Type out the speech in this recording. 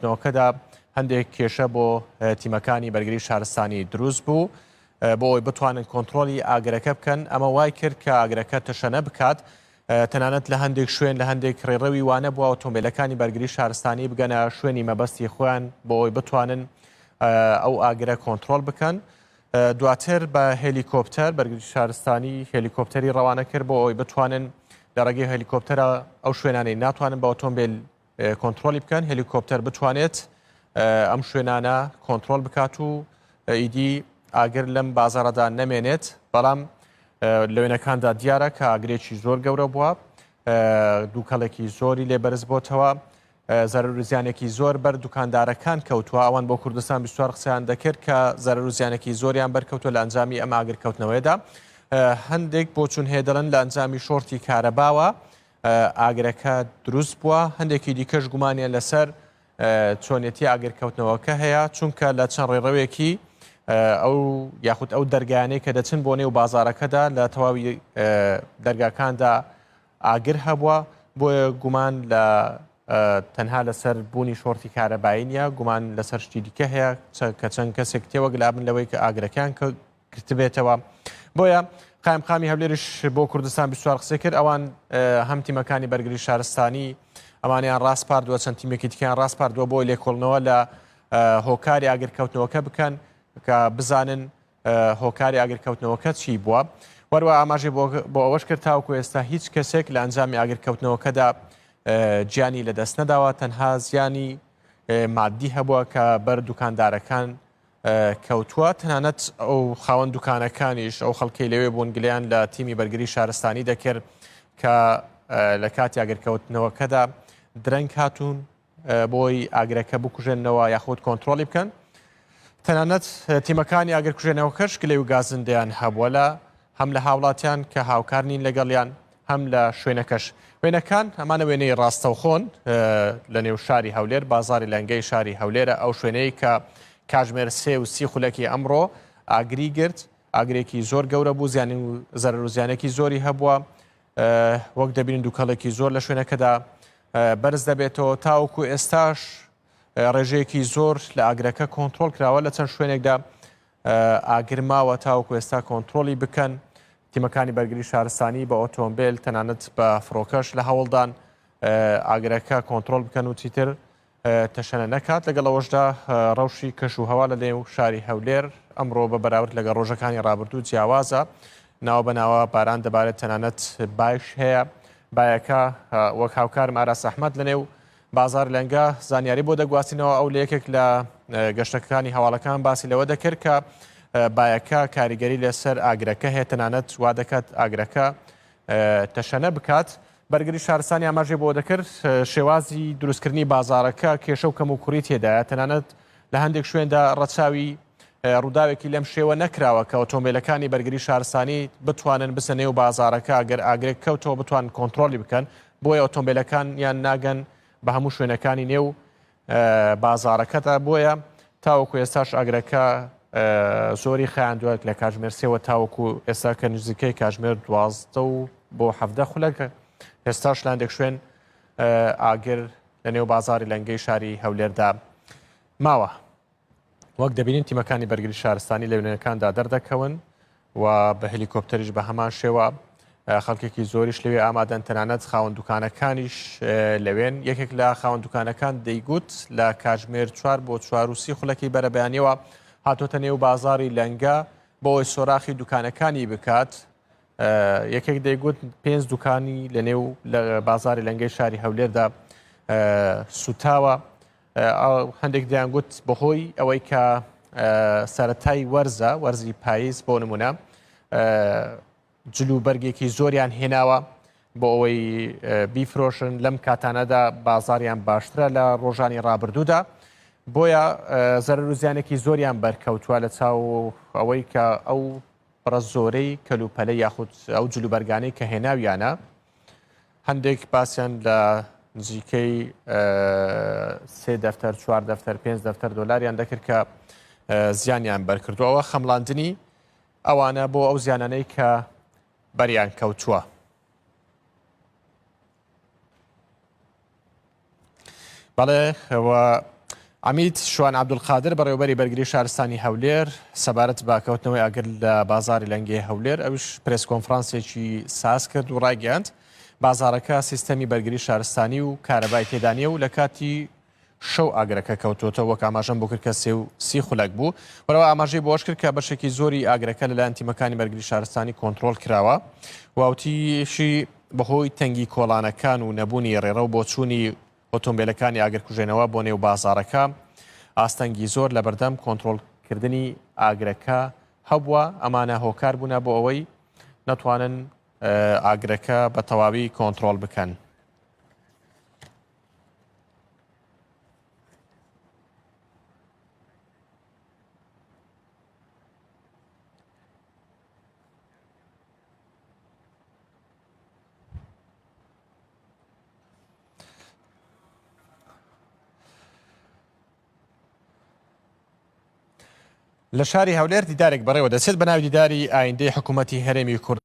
نەوەکەدا هەندێک کێشە بۆ تیمەکانی بەرگری شارستانی دروست بوو بۆ ئەوی بتوانن کۆنتترۆلی ئاگرەکە بکەن ئەمە وای کرد کە ئاگرەکە تەشەنە بکات تەنانەت لە هەندێک شوێن لە هەندێک ڕێڕەوی وانە بووە ئۆتۆمبیلەکانی بەرگری شارستانی بگەنە شوێنی مەبەستی خۆیان بۆ ئەوی بتوانن ئەو ئاگرە کۆنتترۆل بکەن دواتر بە هێلیکۆپتەر بەرگری شارستانی هێلیکۆپتەری ڕەوانە کرد بۆ ئەوی بتوانن لە ڕێگەی هەلیکۆپتەرە ئەو شوێنانەی ناتوانن بە ئۆتۆمبیل کۆنتڕۆڵی بکەن هەلیکۆپتەر بتوانێت ئەم شوێنانە کۆنتترۆل بکات و ئیدی ئاگر لەم بازارەدا نەمێنێت بەڵام لەوێنەکاندا دیارە کە ئاگرێکی زۆر گەورە بووە دووکەڵێکی زۆری لێ بەرز بۆتەوە زەرور زیانێکی زۆر بەر دوکاندارەکان کەوتووە ئەوان بۆ کوردستان بیستوار قسەیان دەکرد کە زەرور زیانێکی زۆریان بەرکەوتوە لە ئەنجامی ئەم ئاگرکەوتنەوەیدا هەندێک بۆچون هەیە دەڵن لە ئەنجامی شۆرتی کارەباوە ئاگرەکە دروست بووە، هەندێکی دیکەش گومانیان لەسەر چۆنێتی ئاگرکەوتنەوەکە هەیە، چونکە لە چەند ڕێڕەوێکی ئەو یاخود ئەو دەرگانەی کە دەچن بۆ نێو بازارەکەدا لە تەواوی دەرگاکاندا ئاگر هەبووە بۆیە گومان لە تەنها لەسەر بوونی شۆرتی کارەبایی نیە گومان لەسەر شتی دیکە هەیە کە چەند کەسێک تێوەگلابن لەوەی کە ئاگرەکان کە گرتبێتەوە بۆیە قایمقامی هەولێریش بۆ کوردستان بیسوار قسەی کرد ئەوان هەم تیمەکانی بەرگری شارستانی ئەمانیان ڕاستپاردووە چەند تیمێکی تکیان ڕاستپاردووە بۆی لێکۆڵنەوە لە هۆکاری ئاگرکەوتنەوەکە بکەن کە بزانن هۆکاری ئاگرکەوتنەوەکە چی بووە وەروە ئاماژی بۆ ئەوەش کرد تاوکو ئێستا هیچ کەسێک لە ئەنجامی ئاگرکەوتنەوەکەدا گیانی لەدەست نەداوە تەنها زیانی مادی هەبووە کە بەر دوکاندارەکان کەوتووە، تەنانەت ئەو خاوەن دوکانەکانیش ئەو خەڵکەی لەوێ بوون گلیان لە تیمی بەرگری شارستانی دەکرد کە لە کاتی ئاگرکەوتنەوەکەدا درەنگ هاتوون بۆی ئاگرەکە بکوژێنەوە یاخود کۆنتترۆلی بکەن تەنانەت تیمەکانی ئاگرکوژێنەوە کەش گلەی و گازندیان هەبووە لە هەم لە هاوڵاتیان کە هاوکار نین لەگەڵیان هەم لە شوێنەکەش. وێنەکان، ئەمانە وێنەی ڕاستەوخۆن لە نێو شاری هەولێر، بازاڕی لەنگەی شاری هەولێرە، ئەو شوێنەی کە کاژمێر سێ و سی خولەکی ئەمڕۆ ئاگری گرت، ئاگرێکی زۆر گەورە بوو، زیانی و زەرەر و زیانێکی زۆری هەبووە، وەک دەبینین دووکەڵێکی زۆر لە شوێنەکەدا بەرز دەبێتەوە، تاوەکو ئێستاش ڕێژەیەکی زۆر لە ئاگرەکە کۆنتترۆل کراوە لە چەند شوێنێکدا، ئاگر ماوە تاوەکو ئێستا کۆنترۆڵی بکەن، تیمەکانی بەرگری شارستانی بە ئۆتۆمبێل تەنانەت بە فڕۆکەش لە هەوڵدان ئاگرەکە کۆنترۆڵ بکەن و چیتر تەشەنە نەکات لەگەڵ ئەوەشدا ڕەوشی کەش و هەوا لە نێو شاری هەولێر ئەمڕۆ بە بەراورد لەگە ڕۆژەکانی ڕابردوو جیاوازە ناوە بەناوە باران دەبارێت تەنانەت باش هەیە بایەکە وەک هاوکارم ئاراس ئەحمد لە نێو بازار لەنگە زانیاری بۆ دەگواستینەوە ئەو لە یەکێک لە گەشتەکانی هەواڵەکان باسی لەوە دەکرد کە بایەکە کاریگەری لەسەر ئاگرەکە هەیە تەنانەت وا دەکات ئاگرەکە تەشەنە بکات بەرگری شارستانی ئاماژێ بۆ دەکرد شێوازی دروستکردنی بازارەکە کێشە و کەم و کوڕی تێدایە تەنانەت لە هەندێک شوێندا ڕەچاوی ڕووداوێکی لەم شێوە نەکراوە کە ئۆتۆمبیلەکانی بەرگری شارستانی بتوانن بسە نێو بازارەکە گەر ئاگرێک کەوتەوە بتوان کۆنتترۆلی بکەن بۆیە ئۆتۆمبێلەکان یان ناگەن بە هەموو شوێنەکانی نێو بازارەکەدا بۆیە تاوەکو ئێستاش ئاگرەکە زۆری خیان دوێت لە کاژمێر سێوە تاوەکو ئێستا کە نزیکەی کاژمێر دوازدە و بۆ حەفدە خولەکە ئێستاش لاندێک شوێن ئاگر لە نێو بازاری لەنگەی شاری هەولێردا ماوە وەک دەبینین تیمەکانی بەرگری شارستانی لە وێنەکاندا دەردەکەون و بە هەلیکۆپتەریش بە هەمان شێوە خەڵکێکی زۆریش لەوێ ئامادەن تەنانەت خاوەن دوکانەکانیش لەوێن یەکێک لە خاوەن دوکانەکان دەیگوت لە کاژمێر چوار بۆ چواروسی خولەکەی بەرەبیانیەوە هاتۆتە نێو بازاری لەنگە بۆی سۆراخی دوکانەکانی بکات یەکێک دەیگوت پێنج دوکانی لە نێو لە بازاری لەنگەی شاری هەولێردا سوتاوە هەندێک دەیانگوت بەهۆی ئەوەی کە سەتای وەرزە وەرزی پاییز بۆ نمونە جل و بەرگێکی زۆریان هێناوە بۆ ئەوەی بیفرۆشن لەم کاتانەدا بازاریان باشترە لە ڕۆژانی ڕابردوودا بۆیە زەرەر و زیانێکی زۆریان بەرکەوتووە لە چاو ئەوەی کە ئەو بڕە زۆرەی کەلوپەلە یاخود ئەو جلوبەرگانەی کە هێناویانە هەندێک باسیان لە نزیکەی سێ دەفتەر چوار دەفتەر پێنج دەفتەر دۆلاریان دەکرد کە زیانیان بەرکردو ئەوە خەمڵاندنی ئەوانە بۆ ئەو زیانانەی کە بەریان کەوتووە. بەڵێ ئەوە عمید شوان عبدولقادر بەڕێوبەری بەرگری شارستانی هەولێر سەبارەت باکەوتنەوەی ئاگر لە بازاری لەنگی هەولێر ئەوش پرس کۆنفرانسێکی ساز کرد و ڕایگەاند بازارەکە سیستەمی بەرگری شارستانی و کارەبای تێدانە و لە کاتی شەو ئاگرەکە کەوتۆتە وەک ئاماژەم بۆ کرد کە سێ و سی خولەک بوو بەرەوە ئاماژەی بۆش کرد کە بەشێکی زۆری ئاگرەکە لەلایەن تیمەکانی بەرگری شارستانی کۆنتترۆل کراوە واوتیشی بەهۆی تەنگی کۆڵانەکان و نەبوونی رێڕەو بۆچوونی ئۆتۆمبێلەکانی ئاگرکوژێنەوە بۆ نێو بازاڕەکە ئاستەنگی زۆر لەبەردەم کۆنترۆڵ کردنی ئاگرەکە هەبووە ئەمانە هۆکار بوونە بۆ ئەوەی نەتوانن ئاگرەکە بە تەواوی کۆنترۆل بکەن. لە شاری هەولێر دیدارێک بەڕێوە دەچێت بە ناوی دیداری ئایندەی حکوومەتتی هەرێمی کورد